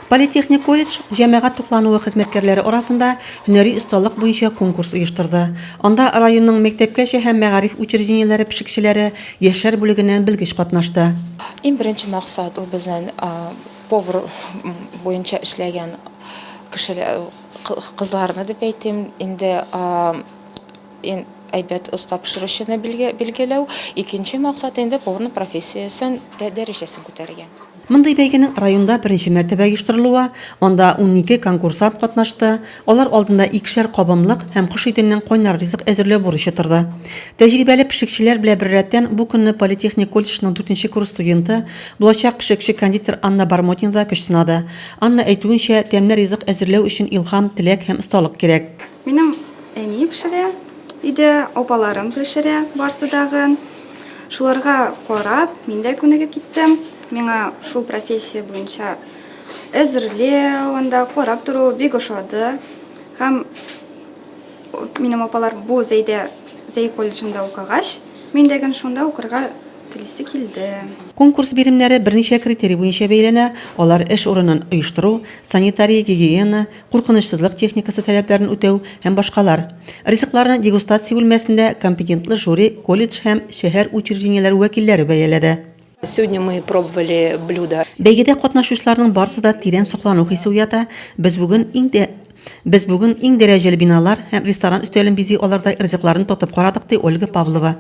Политехник колледж җәмәгать туклануы хезмәткәрләре арасында һөнәри осталык буенча конкурс оештырды. Анда районның мәктәпкәчә һәм мәгариф учреждениеләре пешекчеләре, яшьләр бүлегеннән белгеч катнашты. Иң беренче максат, ул безнең повар буенча эшләгән кешеләр, кызларны дип әйтим, инде. Иң әйбәт оста пешерүчене билгеләү, икенче максат инде поварның профессиясен дә дәрәҗәсен күтәрергә. Мондый бәйгенең районда беренче мәртәбә оештырылуы, анда унике конкурсант катнашты, алар алдында икешәр кабымлык һәм кош итеннән кайнар ризык әзерләү бурычы торды. Тәҗрибәле пешекчеләр белән беррәттән бу көнне политехник колледжның дүртенче курс студенты, булачак пешекче-кондитер Анна Бармотина да көч сынады. Анна әйтүенчә, тәмле ризык әзерләү өчен илһам, теләк һәм осталык кирәк. Минем әни пешерә, өйдә апаларым пешерә барсы дагын. Шуларга карап, мин дә күнегеп киттем. Миңа шул профессия буенча әзерләү, анда карап тору бик ошады. Һәм минем апалар бу Зәйдә Зәй колледжында укыгач, мин дә гел шунда укырга телисе килде. Конкурс биремнәре берничә критерий буенча бәяләнә, алар эш урынын оештыру, санитария-гигиена, куркынычсызлык техникасы таләпләрен үтәү һәм башкалар. Ризыкларны дегустация бүлмәсендә компетентлы жюри, колледж һәм шәһәр учреждениеләре вәкилләре бәяләде. Сегодня мы пробовали блюда. Бәйгедә катнашучыларның барысы да тирән соклану хисе уята, без бүген иң дә без бүген иң дәрәҗәле биналар һәм ресторан өстәлен бизи алардай ризыкларны татып карадык, ди Ольга Павлова.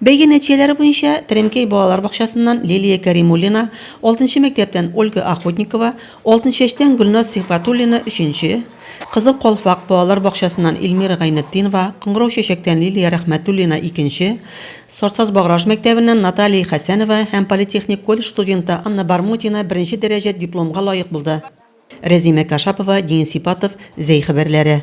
Бәйге нәтиҗәләре буенча Теремкәй балалар бакчасыннан Лилия Кәримуллина, алтынчы мәктәптән Ольга Охотникова, Алтынчәчтән Гөлназ Сибгатуллина, өченче, Кызыл Калфак балалар бакчасыннан Илмира Гайнетдинова, Кыңгырау Чәчәктән Лилия Рәхмәтуллина, икенче, Сорцаз Баграж мәктәбеннән Наталия Хәсәнова һәм политехник колледж студенты Анна Бармутина беренче дәрәҗә дипломга лаек булды. Рәзимә Кашапова, Дин Сипатов, Зәй хәбәрләре.